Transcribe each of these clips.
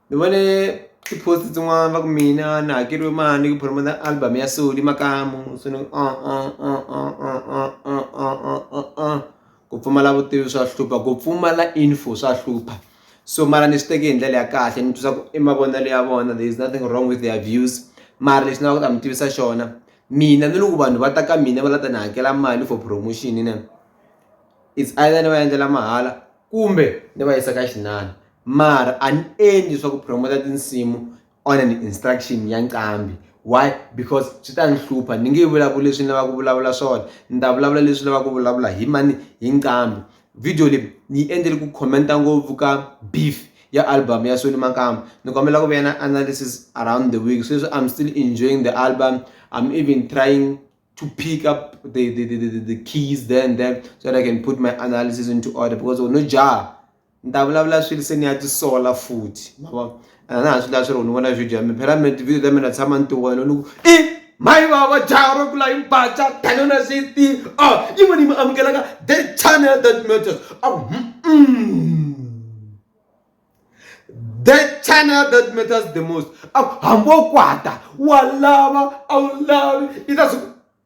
Ni vone ti-post tin'wani va ku mina ni hakeriwe mali ku promote album ya so ni makamu se ni ku pfumala vutivi swa hlupha ku pfumala info swa hlupha so mara ni swi teke hi ndlela ya kahle ni twisisa ku i mavonelo ya vona there is nothing wrong with their views mara lexi ni lava ku ta mi tivisa xona mina ni loko vanhu va ta ka mina va la ta ni hakela mali for promotion its either ni va endlela mahala kumbe ni va yisa ka xin'wana mara a ni endli swa ku promoter tinsimu on an instruction ya nqambi why because swi ta ni hlupha ni nge vulavuli leswi ni lavaka ku vulavula swona ni ta vulavula leswi lavaka ku vulavula hi mani hi nqambi video leyi ni yi endlele ku commenta ngopfu ka beef ya album ya Soni Makamba ni kombela ku vuyana analysis around the week sweswi I'm still enjoying the album I'm even trying to pick up the, the, the, the, the keys there and there so that I can put my analysis into order because no jaha ni ta vulavula swilo se ni ya tisola futhi ma vona ene na ha swi lava swi ri u ni vona video ya mina phela mina tivhidiyo ta mina tshama ni tiwela ni ku i mayi vava jaha ro kula himpaca tani na swi tii a ah, yi vona yi mi amukelaka the channel that matters a ah, mm. the channel that matters the most a ah, hambi wo kwata wa lava a wu lavi yi ta swi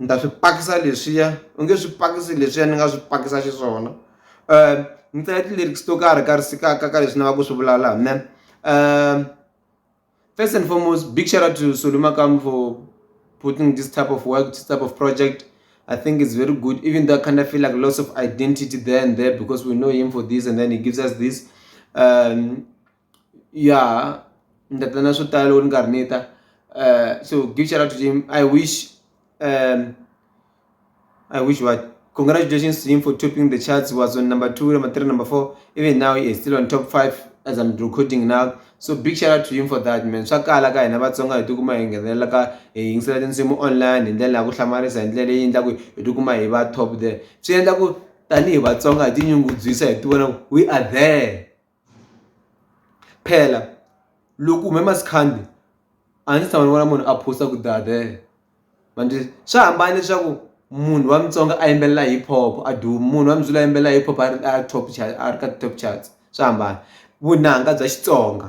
ni ta swi pakisa leswiya u nge swi pakisi leswiya ni nga swi pakisa xiswona ni tsale ti-lyrics to karhi ka ka ka ka leswi ni lava ku swi vulavula ha mina first and foremost big shout out to Solly Makamu for putting this type of work this type of project I think it's very good even though I kind of feel like lots of identity there and there because we know him for this and then he gives us this um ya ni ta ta na swo tala loko ni karhi ni ta so big shout out to Zim I wish I wish what congratulations to him for topping the charts he was on number two number three number four even now he is still on top five as I'm recording now so big shout out to him for that man swa kala ka hina Vatsonga hi tikuma hi nghenelela ka hi yingisela tinsimu online hi ndlela ya ku hlamarisa hi ndlela leyi endlaku hi tikuma hi va top there swi endla ku tanihi Vatsonga hi tinyungubyisa hi tivona ku we are there. phela loko u hume maskandi a ndzi se tshama ni vona munhu a post ku dader ma ndzi swi hambana leswaku munhu wa Mutsonga a yimbelela hip hop a duma munhu wa Muzulu a yimbelela hip hop a ri a top a ri ka top charts swa hambana vunanga bya Xitsonga.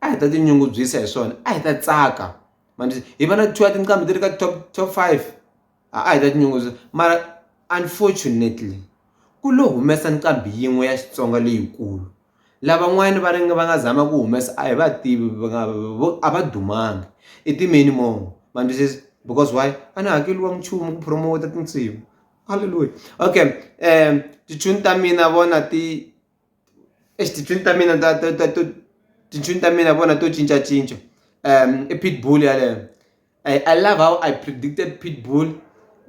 a hi ta tinyungubyisa hi swona a hi ta tsaka manjhe hi va na two ya tinqambi ti ri ka top top five a a hi ta tinyungubyisa mara unfortunately ku lo humesa nqambi yin'we ya xitsonga leyikulu lavan'wani va ringe va nga zama ku humesa a hi va tivi va nga a va dumanga i timeni mo manjhe because why a ni hakeliwa nchumu ku promote tinsimu halleluya okay um tichuni ta mina vona ti exi tintswini ta mina ta ta ta to tintswini ta mina vona to cincacinca um i pitbull yaleyo I, i love how i predicted pitbull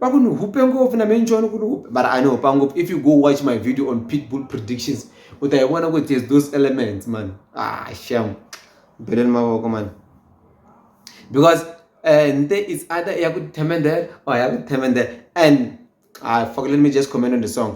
va ku ni hupe ngopfu na menjoni ku ni hupe mara a ni hupa ngopfu if you go watch my video on pitbull predictions u ta yi vona ku there's those elements man ah sham beleni mavoko man because uh, nte is either ya ku themendela or ya ku themendela and ah fuck let me just comment on the song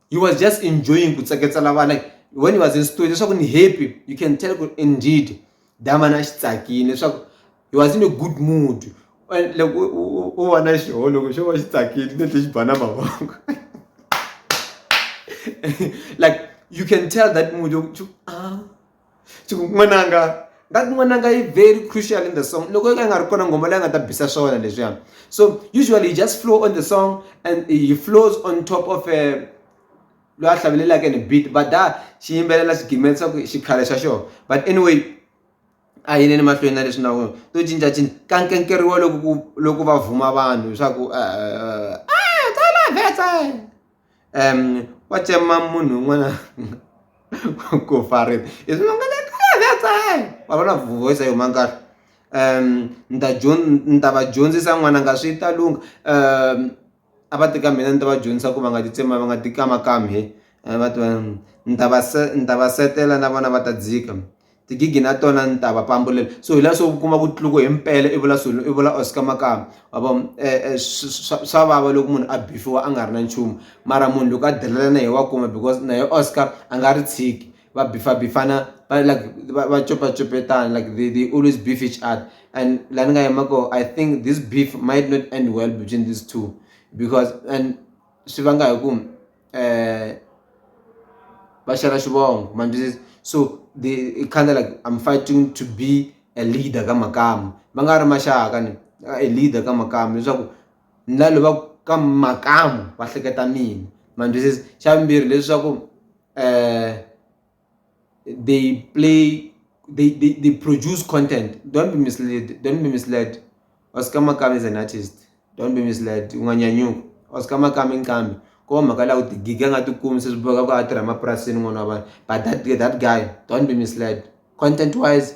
he was just enjoying ku tseketsela vana when he was in studio leswaku ni happy you can tell ku indeed damana a xi tsakile leswaku he was in a good mood loko u vona xiho loko xo va xi tsakile ni tlhe xi ba na mavoko like you can tell that mood yokuthi ah n'wananga that n'wananga yi very crucial in the song loko yo ka yi nga ri kona ngoma leyi nga ta bisa swa wena leswiya so usually you just flow on the song and he flows on top of a eh, loyi a hlavelelaka ni beat but da xi yimbelela xigimela xa ku xikhale xa xona but anyway a yini ni mahlweni na leswi nawu to cincacinca ka nkenkeriwa loku loku va vhuma vanhu leswaku eh, eh, eh, wacce mamunhu un'wana ku farisa i swi nga wa vona voice yo mangala ni ta ni ta va dyondzisa n'wananga swi ta lungha a va ti ka mina ni ta va dyondzisa ku va nga ti tsema va nga ti kamakami va ta ni ta va se ni ta va seketela na vona va ta dzika tigigi na tona ni ta va pambulela so hi laha se u kuma ku tluku hi mpela i vula swilo i vula oscar makamba wa vo eh, eh, swa swa vava loko munhu a bifiwa a nga ri na nchumu mara munhu loko a delelana hi wa kuma because naye oscar a nga ri tshiki va bifabifana va like va va copacopetana like they, they always beef each other and la ni nga yima ko i think this beef might not end well between these two because and swi vanga hi ku uh va xela xivongo ma ndzi so the i kind of like I'm fighting to be a leader ka makamu va nga ri maxaka ni a leader ka makamu leswaku ni la lava ka makamu va hleketa mina ma ndzi xa vumbirhi leswaku . they play they, they, they produce content don't be misled don't be misled oscar makami is an artist don't be misled unganyanyuka oscar makami nqambi ko mhaka la ku tigiga nga tikumi se swi boka ku a tirha emapurasini n'wana wa vanhu but that, that guy don't be misled content wise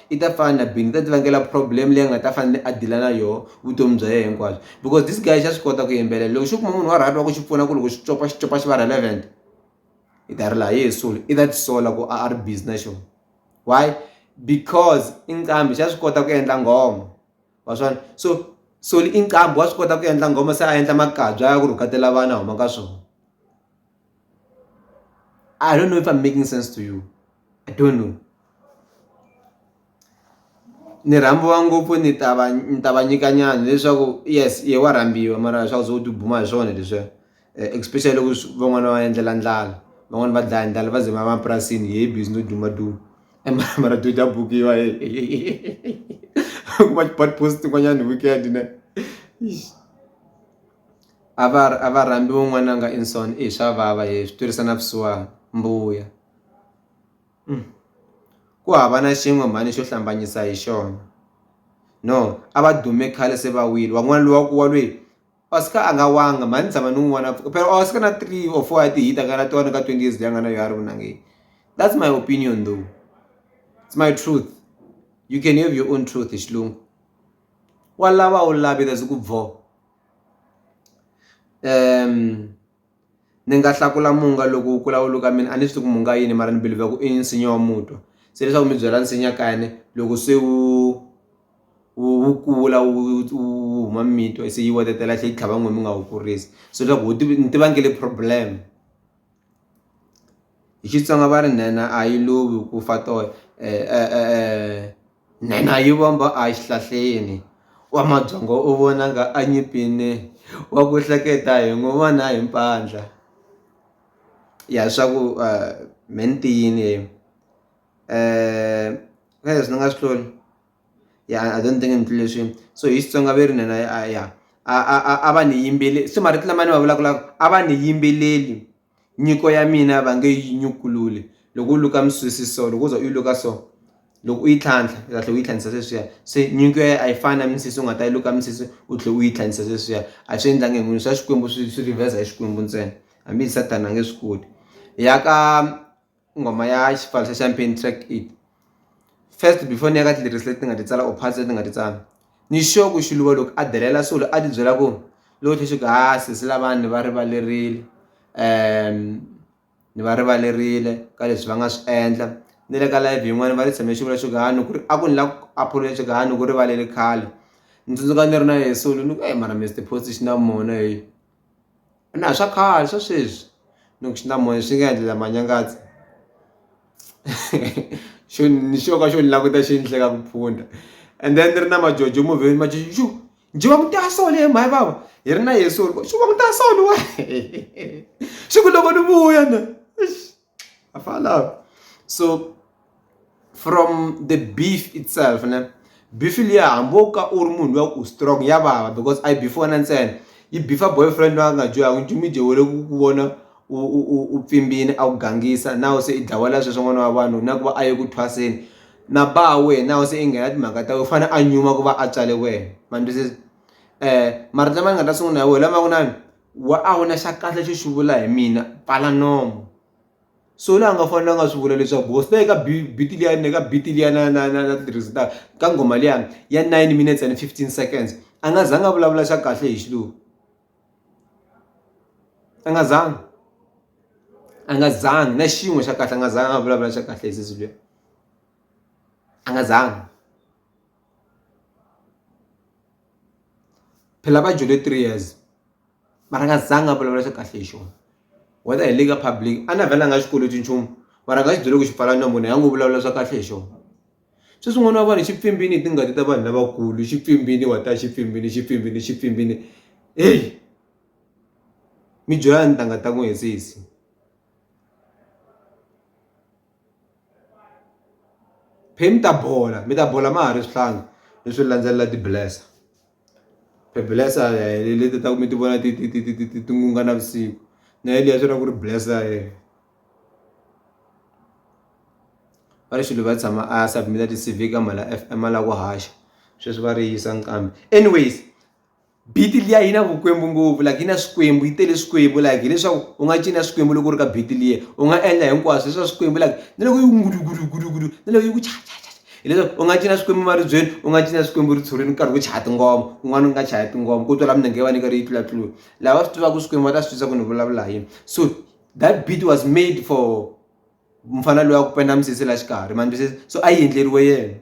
i ta pfana na bini ta ti vangela problem leyi nga ta fanele a dila na yoho vutomi bya yena hinkwabyo because this guy xa swi kota ku yimbelela loko xi kuma munhu wa right wa ku xi pfuna ku loko xi copa xi copa xi va relevant i ta ri laha yehe soul i ta tisola ku a a ri busy na xona why because i nqambi xa swi kota ku endla nghoma wa swona so soli i nqambi wa swi kota ku endla nghoma se a endla makabya ya ku rhukatela vana huma ka swona i don't know if i'm making sense to you I don't know ni rhambiwa ngopfu ni ta va ni ta va nyika nyana leswaku yes ye wa rhambiwa mara swa ku ze u tibuma hi swona leswiya especially loko van'wana va endlela ndlala van'wani va dlaya ndlala va ze va mapurasini hi busy no duma duma mara to ta bukiwa u kuma ti-blog post tin'wanyani hi weekend ne a va a va rhambiwa n'wananga i swa vava swi twisa na vusiwana mbuya. Ku hava na xin'we mhani xo hlambanyisa hi xona no a va dume khale se va wile wan'wana luwa ku wa lweyi a swi ka a nga wanga mhani ni tshama ni n'wi vona phela a swi ka na three or four ya ti-hit a nga na tona ka twenty years leyi a nga na yo a ri vunangeni that's my opinion though it's my truth you can have your own truth hi xilungu wa lava a wu lavi ku . ni nga hlakula munga loko wu kula wu luka mina a ni swi tivi ku munga yini mara ni believer ku i nsinya wa mutwa se leswaku mi byela nsinya kayani loko se wu wu wu kula wu wu huma mito se yi wetetela tlhe yi tlhava n'we mi nga wu kurisi so leswaku wu ni tiva nge le problem hi Xitsonga va ri nhenha a yi lovi ku fa toya . Nhenha yi vomba a hi xihlahleni, wa mabyongo u vona nga a nyipini, wa ku hleketa hi n'wi vona hi mpandla. Ya swa ku me ni ti yini he ka leswi ni nga swi hlula ya I don't think ni hlule swi so hi Xitsonga ve ri nhenha ya a va ni yimbele se marito lama ni ma vulavulaka a va ni yimbeleli. Nyiko ya mina va nge yi nyukululi loko u luka misisi so loko u za u yi luka so loko u yi tlhantlha u ta tlhela u yi tlhandisa sweswiya se nyiko ya a yi fani na misisi u nga ta yi luka misisi u tlhela u yi tlhandisa sweswiya a swi endlangi hi munhu swa xikwembu swi swi riveza hi xikwembu ntsena hambi hi sathana a nge swi koti ya ka nghoma ya xipfalo xa champagne track eight first before ni ya ka ti-lyrics leti nga ti tsala or parts leti nga ti tsala ni sure ku xiluva loko a delela swilo a ti byela ku loko tlhe xi ku ha sesi lavani ni va rivalerile um ni va rivalerile ka leswi va nga swi endla ni le ka live yin'wani va ri tshame xivula xo kani ku ri a ku ni la ku apology xo kani ku rivalele khale ni tsundzuka ni ri na yesulu ni ku eyi mara Mister Post xi na mona heyi. a na ha swa khale swa sweswi ni ku swi na moya swi nga endla la manyangaza xo ni xo ka xo ni languta xi ni hleka ku phunda and then ni ri na majojo movheni majojo xu njhe va ku ta so lehe mhani bava hi ri na yeso xu va ku ta so ni wehe xi ku loko ni vuya na eish. I found out so from the beef itself ne beef liya hambi wo ka u ri munhu luya ku strong ya vava because a yi beef wena ntsena yi beefa boyfriend loyi a nga dyohaka nchumu yi dyewele ku ku vona u pfimbini a ku gangisa nawu se i dlawela sweswo n'wana wa vanhu na ku va a ye ku thwaseni na ba wena nawu se i nghena timhaka ta wena u fanele a nyuma ku va a tswale wena ma ni twisisa marito lama ni nga ta sungula hi wona lama ku na wa a wu na xa kahle xo xi vula hi mina pfala nomo so la nga fanela a nga swi vula leswaku hosi leyi ka beat liya ni ka beat liya na na na na tirhisa ta ka nghoma liya ya nine minutes and fifteen seconds a nga zanga a vulavula xa kahle hi xilungu a nga zanga a nga zanga na xin'we xa kahle a nga zanga a vulavula xa kahle hi sesi luya a nga zanga phela va dyele three years mara a nga zanga a vulavula swa kahle hi xona whether hi le ka public a na vhela a nga xikweleti nchumu mara a nga xi byele ku xi pfala nomu na ya ngo vulavula swa kahle hi xona se swin'wana wa vanhu xi pfimbini hi tingati ta vanhu lavakulu xi pfimbini wa ta xi pfimbini xi pfimbini xi pfimbini heyi mi byela ntangha ta n'wi hi sesi. Phe mi ta bola mi ta bola ma ha ri swihlangi mi swi landzelela ti blesser phe blesser hi leti ta ku mi ti vona ti ti ti ti ti ti ti n'unga navusiku na ya liya swi vula ku ri blesser va ri xilo va tshama a ya submit-a ti-C_V ka mhana F_M a lava ku haxa sweswi va ri yisa nqambi anyways. biti liya yi na vukwembu ngopfu like yi na swikwembu yi tele swikwembu like hileswaku u nga cina swikwembu loko u ri ka biti liya u nga endla hinkwaswo leswa swikwembu like na loko yi ngulugudugudugudu na loko yi ku chachacha hileswaku u nga cina swikwembu maribyeni u nga cina swikwembu ritshurini u karhi ku chaya tingoma kun'wana u nga chaya tingoma ku twala minenge va ni karhi yi tlulatlula lava swi tivaka swikwembu va ta swi twisa ku ni vulavula hi yini so that beat was made for mfana loyi wa ku penda misisi la xikarhi ma ni twisisa so a yi endleriwe yena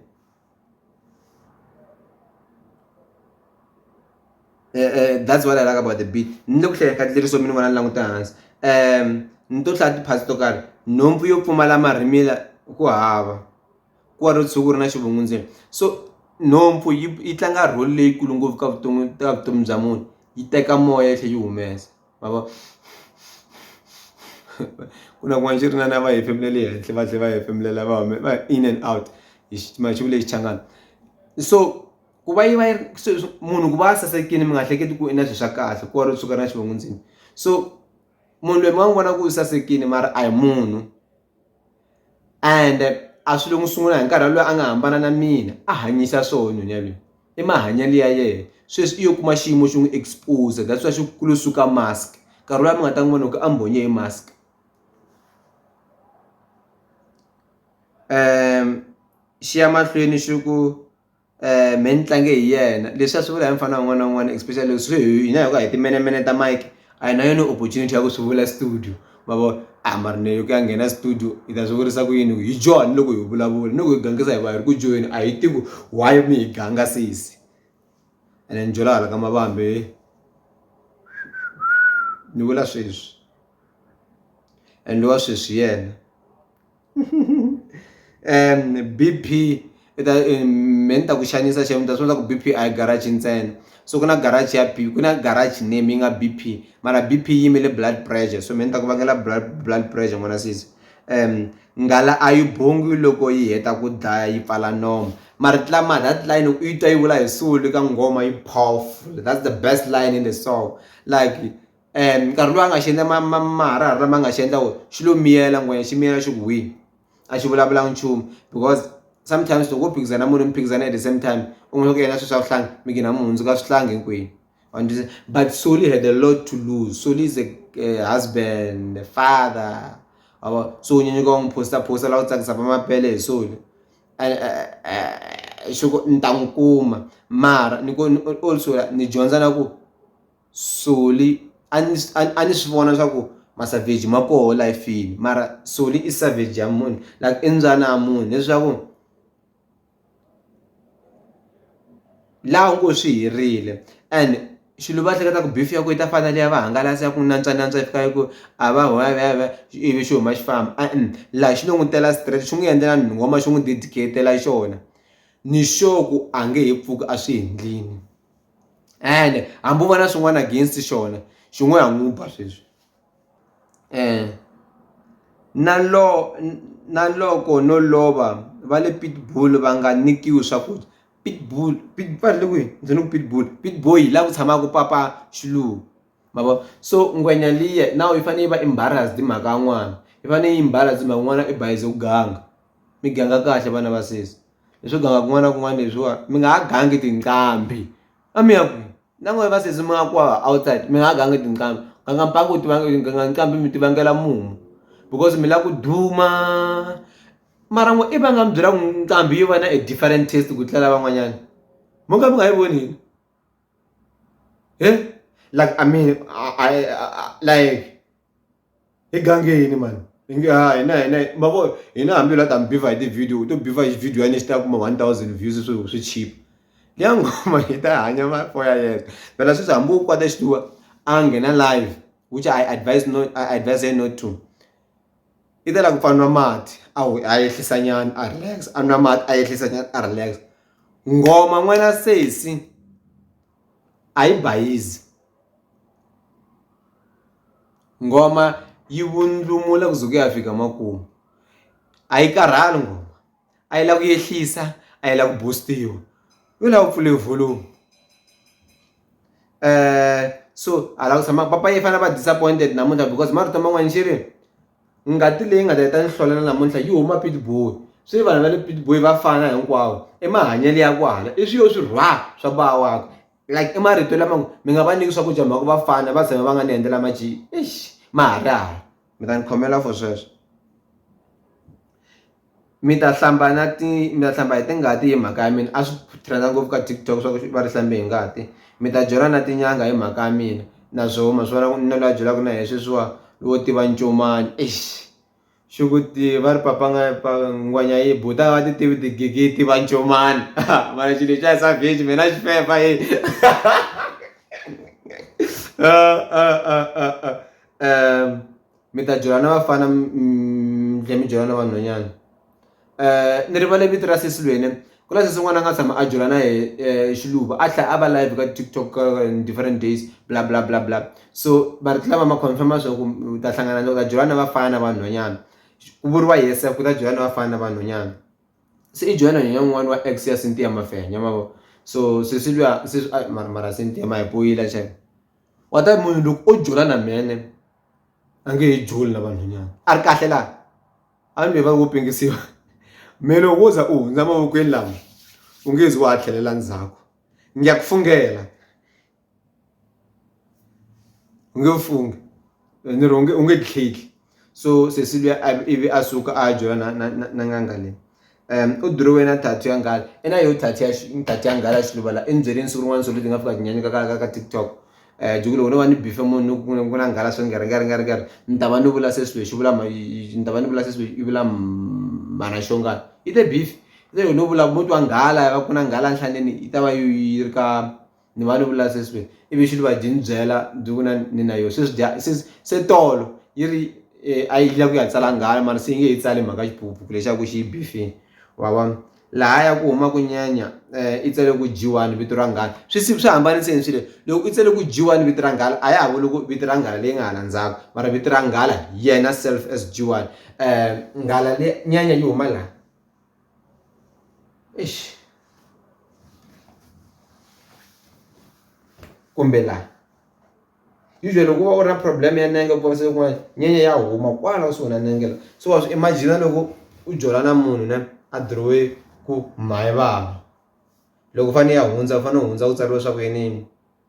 that's what I like about the beat ni le ku hlaya ka tlileriso mi ni vona ni languta hansi um ni to hlaya tiphasi to karhi nhompfu yo pfumala marhimila ku hava ku wa ri tshuku ri na xivungu ndzeni so nhompfu yi yi tlanga role leyikulu ngopfu ka vutomi ka vutomi bya munhu yi teka moya yi tlhela yi humesa. vava ku na kun'wana xi ri na na va hefemulele henhla va tlhela va hefemulela va hume va in and out hi xitimela xi vule xichangani so ku va yi va yi ri sweswi munhu ku va a sasekile mi nga hleketi ku i na swilo swa kahle ku va ri suka na xivongo ndzeni so munhu loyi mi nga n'wi vona ku u sasekile mara a hi munhu. and a swi lo n'wi sungula hi nkarhi loyi a nga hambana na mina a hanyisa swona nyonya loyi i mahanyelo ya yena sweswi i yo kuma xiyimo xi n'wi expose that's why xi kulo suka mask nkarhi loyi mi nga ta n'wi vona loko a mbonye hi mask um xi ya mahlweni xi ku me ni tlange hi yena leswi a swi vula hi mufana un'wana na un'wana especially loko swi hi hina hi va hi timenemene ta Mike a hi na yona opportunity ya ku swi vula studio ma vo a mara ni ku ya nghena studio hi ta swi vurisa ku yini hi join loko hi vulavula ni ku hi gangisa hi va hi ri ku joyeni a hi tivi why mi hi ganga sesi ene ni jola hala ka mavambi ni vula sweswi and lowa sweswi hi yena. um BP i ta me ni ta ku xanisa xana mi ta swi vona ku BP a hi garage ntsena so ku na garage ya B ku na garage name yi nga BP mara BP yi yimele blood pressure so me ni ta ku vangela blood blood pressure n'wana sisi um nghala a yi bongi loko yi heta ku dlaya yi pfala nomo mara tlama that line u yi twa yi vula hi sulu ka nghoma yi powerful that's the best line in the song like and nkarhi lowu a nga xi endla ma ma maharihari lama nga xi endla wona xi lo miyela ngwenya xi miyela xi ku wini a xi vulavulanga nchumu because sometimes loko wo phikizana munhu mi phikizana at the same time u n'wi ku yena swilo swa vuhlangi mi gina mi hundzuka swihlangi hinkwenu understand but Soli had a lot to lose Soli is a uh, husband a father abo so unyanyuka u n'wi phosta phosta laha u tsakisa va mapele hi Soli xoko ni ta n'wi kuma mara ni ko also ni dyondza na ku soli a ni a ni swi vona swa ku masavheji ma koho lifini mara soli i savheji ya munhu like i mbyana ya munhu leswaku laha u ngo swi herile and xilo va hleketa ku beef ya ku yi ta fana na liya va hangalasa ya ku nantswa nantswa yi fika yi ku a va hwayavhayavhaya ivi xi huma xi famba e-e laha xi lo n'wi tela straight xi n'wi endlela nghoma xi n'wi dedicate-ela xona ni sure ku a nge he pfuki a swi endlile. and hambi u va na swin'wana against xona xi ngo ha n'wi ba sweswi um na lo na loko no lova va le pitbull va nga nyikiwi swakudya pitbull va ri le kwihi ndzi ni ku pitbull pitboy hi laha ku tshamaka papa xilungu ma vo so ngwenya liya na yi fanele yi va embarrassed hi mhaka ya n'wana yi fanele yi embarrassed hi mhaka n'wana i bayize ku ganga. mi ganga kahle vana va sesi leswo ganga kun'wana na kun'wana leswiwa mi nga ha gangi tinqambi a mi ya kwihi na n'wehe va sesi mi nga ku outside mi nga ha gangi tinqambi ganga mpangu u tiva ganga nqambi mi ti vangela mumu because mi lava ku duma mara n'we i va nga mi byela ku nqambi yo va na a different test ku tlula lavan'wanyani mo ka mi nga yi voni yini he like I mean like. egangeni mani inge ha hina hina mavo hina hambi la ta mi biva hi ti-video to biva hi video ya ni xi ta kuma one thousand views swi swi chip liya ngoma yi ta hanya mafo ya yena phela sweswi hambi u kwata xituwa a nghena live which i advise not i advise her not to i ta la ku pfanwa mati a a ehlisa nyana a relax a nwa mati a ehlisa nyana a relax ngoma n'wana sesi a yi bayizi ngoma yi vundlumula ku ze ku ya fika makumu a yi karhali ngoma a yi lava ku yehlisa a yi lava ku boost-iwa yo lava ku pfule volume so hala ku tshama papa yi fanele va disappointed namuntlha because marito man'wana xi ri Ngati leyi nga ta heta nhlolelo namuntlha yi huma Pietboi. Swi vanhu va le Pietboi va fana hinkwavo i mahanyelo ya kwala i swiyo swi rhwa swa bava wakwe like i marito lama ngo mi nga va nyiki swakudya hi mhaka ku va fana va tshame va nga ni endlela maji eish maharihari mi ta ni khomela for sweswo. mi ta hlamba na ti mi ta hlamba hi tingati hi mhaka ya mina a swi trend-a ngopfu ka TikTok swa ku va ri hlambe hi ngati mi ta byela na tin'anga hi mhaka ya mina na swo ma swi vona ku na loyi a byelaka na hi sweswiwa wo tiva ncomani eish xi ku ti va ri papa nga pa ngwenya yi buta va ti tivi tigigi yi tiva ncomani mara xilo xa hi savage mina xi fefa yi um mi ta jola na vafana mi tlhela mi jola na vanhwanyana ni rivale vito ra sesi lwene ku na sesi n'wana a nga tshama a jola na hi xiluva a tlhela a va live ka tiktok different days bla bla bla bla so va ri lava ma confirma swa ku u ta hlangana na u ta jola na vafana na vanhwanyana ku vuriwa yesef ku ta jola na vafana na vanhwanyana se i jola na nhwanyana un'wana wa ex ya Cynthia Mafenya ma vo so sesi luya sesi mara mara Cynthia ma hi poyila xana wa ta munhu loko o jola na mhene. a nge he joli na vanhwanyana a ri kahle laha a mi va wo pengisiwa me loko wo za u hundza mavokweni lama u nge zi wa ha tlhelela ndzhaku ngi ya ku fungela u nge fungi ni ri u nge u nge tlheli so sesi luya ivi a suka a jola na na na n'anga leyi. um u dirowini na tattoo ya nghala i na yo tattoo ya tattoo ya nghala ya xiluvala i ni byerile siku rin'wana so leti nga fika tinyanyuka ka ka ka tiktok um jiki loko no va ni bife munhu ku ku na nghala so ni nga ri nga ri nga ri nga ri ni ta va ni vula se swilo lexi vula ni ta va ni vula se swilo i vula mhana xongana i te bifi se loko no vula ku muti wa nghala va ku na nghala nhlaneni yi ta va yi ri ka. ni va ni vula se swi ivi xi va byi ni byela byi ku na ni na yo se swi dya se se tolo yi ri eh, a yi lava ku ya tsala nghala mara se yi nge yi tsali mhaka xiphuphu lexaku xi yi bifini wa vona laha ya ku huma ku nyanya eh, i tsele ku dyiwani vito ra nghala swi swi hambaniseini swilo loko i tsele ku dyiwani vito ra nghala a ya ha vuli ku vito ra nghala leyi nga hala ndzhaku mara vito ra nghala yena self as dyiwani um nghala le nyanya yi huma laha eish kumbe la usually loko u va u ri na problem ya nenge ku vavisa kun'wana nyenya ya huma kwala kusuhi na nenge la so wa swi imagine loko u jola na munhu ne a dirowe ku mhani vava loko u fanele u ya hundza u fanele u hundza ku tsariwe swa ku yiniyini.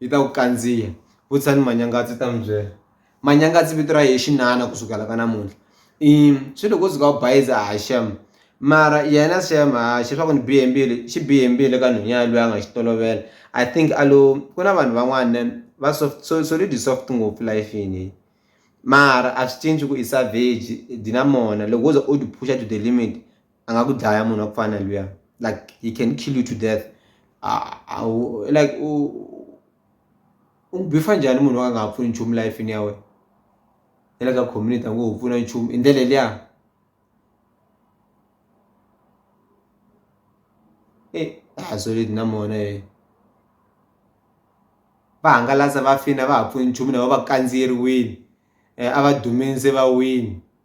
yi ta ku kandziya vutisani manyangatsi u ta mi byela manyangatsi vito ra yehe xinana ku sukela ka namuntlha i swi loko u suka u bayiza ha xem mara yena xem ha xe swa ku ni bihe mbilu xi bihe mbilu eka nhwenya yalweyo a nga xi tolovela i think a lo ku na vanhu van'wana va soft so solid soft ngopfu lifini mara a swi cinci ku i savage dynamona loko wo ze u ti phusha to the limit. angakudlaya munhu wa ku fana luya like he can kill you to death awu like u u bifa njhani munhu wa nga ha pfuni nchumu life ni ya wena ya le ka community a ngo ho pfuna nchumu hi ndlela liya e eh, hazoleti na mona e eh. va hangalasa va fina va ha pfuni nchumu na va va kandziyeriwini um a va duminse va wini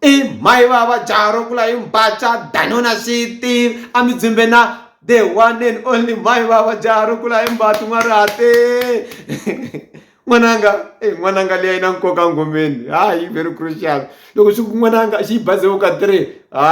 i mhai vava jaha ro kula hi mbatsa danona siti a mi dzimbe na the one and only mhai vava jaha ro kula hi mbati n'warihate n'wananga e n'wananga leyi na nkoka ngomeni hayi very crucial loko swi ku n'wananga xi yi bazewu ka three ha